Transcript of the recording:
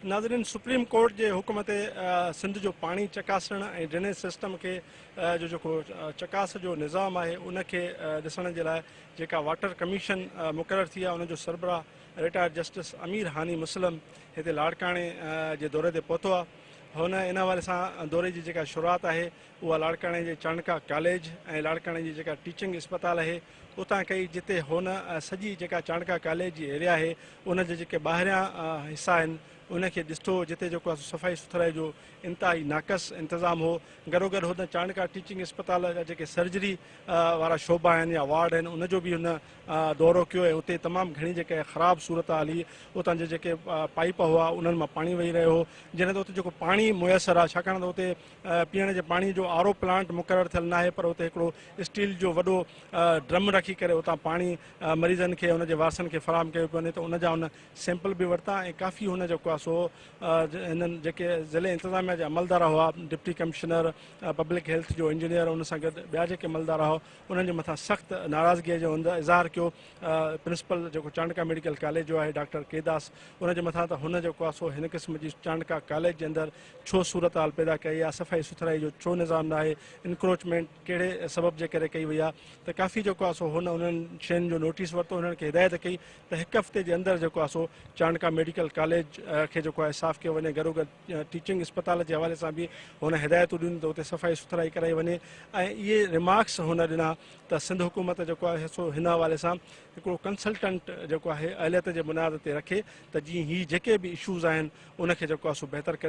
ناظرين supreme court جي حڪم تي سنڌ جو پاڻي چڪاسڻ ۽ ڊرينيج سسٽم کي جو جيڪو چڪاس جو نظام آهي ان کي ڏسڻ جي لاء جيڪا واٽر ڪميشن مقرر ٿي آهي ان جو سربراهه رٽائرڊ جسٽس امير هاني مسلم هتي لاڙڪاڻي جي دوري تي پهتو آهي هن ان حوالي سان دوري جي جيڪا شروعات آهي اها لاڙڪاڻي جي چانڊڪا ڪاليج ۽ لاڙڪاڻي جي جيڪا ٽيچنگ اسپتال آهي اتان ڪئي جتي هن سڄي جيڪا چانڊڪا ڪاليج جي ايريا آهي ان جا جيڪي ٻاهريان حصا آهن ان کي ڏسٺو جتي جيڪو صفائي سٿرائي جو انتهائي ناقص انتظام هو گڏوگڏ هن چانڊڪا ٽيچنگ اسپتال جا جيڪي سرجري وارا شعبا آهن يا وارڊ آهن ان جو به هن دورو ڪيو ۽ اتي تمام گهڻي جيڪا خراب صورتحال هئي اتان جا جيڪي پائيپ هئا انهن مان پاڻي وهي رهيو هو جنهن اتي جيڪو پاڻي ميسر آهي ڇاڪاڻ ته اتي پيئڻ جي پاڻي جو آر او پلانٽ مقرر ٿيل ناهي پر اتي هڪڙو اسٽيل جو وڏو ڊرم رکي ڪري اتان پاڻي مريضن کي ان جي وارثن کي فراهم ڪيو پيو وڃي ته ان جا هن سيمپل به ورتا ۽ ڪافي هن جيڪو آهي سو هنن جيڪي ضلعي انتظاميا جا عملدار هئا ڊپٽي ڪمشنر پبلڪ هيلٿ جو انجنيئر ان سان گڏ ٻيا جيڪي عملدار هئا انهن جي مٿان سخت ناراضگي جو اظهار ڪيو پرنسپل جيڪو چانڊڪا ميڊيڪل ڪاليج جو آهي ڊاڪٽر ڪيداس ان جي مٿان ته هن جيڪو آهي سو هن قسم جي چانڊڪا ڪاليج جي اندر ڇو صورتحال پيدا ڪئي آ صفائي سٿرائي جو ڇو نظام ناهي انڪروچمينٽ ڪهڙي سبب جي ڪري ڪئي وئي آ ته ڪافي جيڪو آ سو هن انهن شين جو نوٽيس ورتو هنن کي هدايت ڪئي ته هڪ هفتي جي اندر جيڪو آ سو چانڊڪا ميڊيڪل ڪاليج کي جيڪو آ صاف ڪيو وڃي گڏو گڏ ٽيچنگ اسپتال جي حوالي سان به هن هدايتون ڏنيون ته اتي صفائي سٿرائي ڪرائي وڃي ۽ اهي ريمارڪس هن ڏنا ته سنڌ حڪومت جيڪو آ سو هن حوالي سان هڪڙو ڪنسلٽنٽ جيڪو آهي اهليت جي بنياد تي رکي ته جيئن هي جيڪي به اشوز آهن ان کي جيڪو آ سو بهتر ڪري